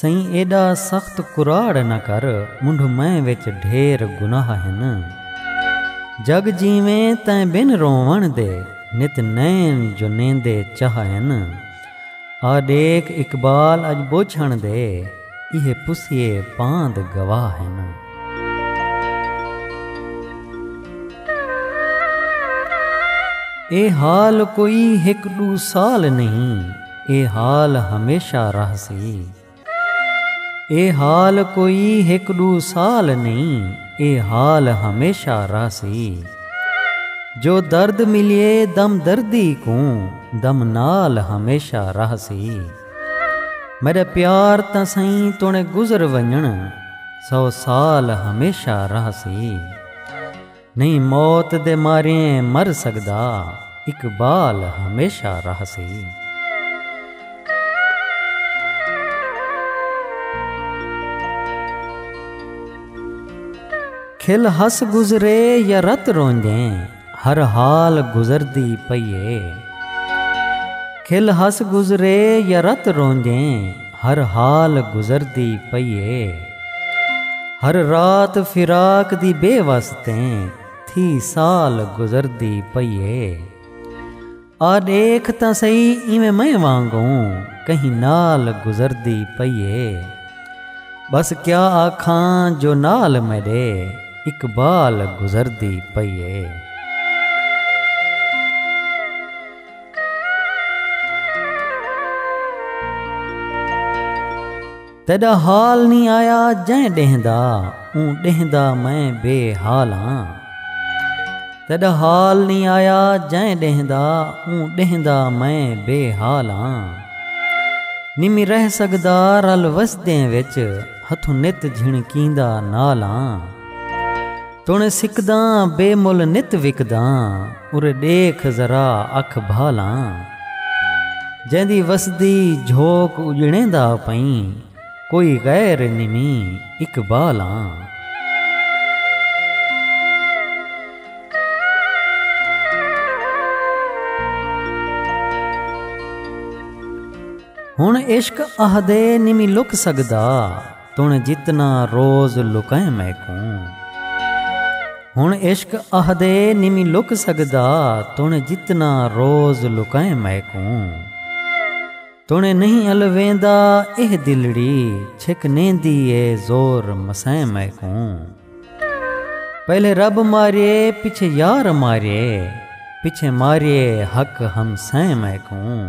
سئیں ایݙا سخت کراڑ نہ کر منڈھ میں وچ ڈھیر گناہ ہن جگ جیویں تیں بن رووݨ دے نت نین جو نیندے چاہ ہن آ ݙیکھ اقبال اڄ ٻوجھݨ دے ایہے پسیے پاند گواہ ہن۔ اے حال کوئی ہک ݙو سال نہیں۔ اے حال ہمیشہ رہسی۔ اے حال کوئی ہک ڈو سال نئیں اے حال ہمیشہ رہسی۔ جو درد ملیے دم دردی کوں دم نال ہمیشہ رہسی۔ میڈا پیار تاں سئیں توڑیں گزر ونجنڑ سو سال ہمیشہ رہسی۔ نہیں موت دے ماریں مر سگدا اقبال ہمیشہ رہسی۔ کھل ہس گزرے یا رت روندیں ہر حال گزردی پئی اے۔ ہر حال گزردی پئی اے۔ ہر رات فراق دی بے وس تیں تھی سال گزردی پئی اے۔ آ ݙیکھ تاں سہی ایویں میں وانگوں کہیں نال گزردی پئی اے۔ ٻس کیا آکھاں جو نال میݙے اقبال گزردی پئی اے۔ تیݙا حال نی آیا جئیں ݙینہہ دا اوں ݙینہہ دا میں بے حال ہاں تیݙا حال نی آیا جئیں ݙینہہ دا اوں ݙینہہ دا میں بے حال ہاں نمی رہ سڳدا رل وسدیں وچ ہتھوں نت جھݨکیندا نال ہاں توݨے سکداں بے مل نت وکداں ارے ݙیکھ ذرا اکھ بھالاں جیندی وسدی جھوک اڄڑیندا پئیں کوئی غیر اے نمیں اقبالاں۔ ہݨ عشق اہدے نمیں لک سڳدا۔ توں جتنا روز لکئیں میکوں۔ ہن عشق اہدے نمی لک سگدا توں جتنا روز لکئیں میکوں۔ توں نہیں الویندا ایہ دلڑی چھک نیندی اے زور مسئیں میکوں۔ پہلے رب ماریے پچھے یار ماریے پچھے ماریے حق ہمسئیں میکوں۔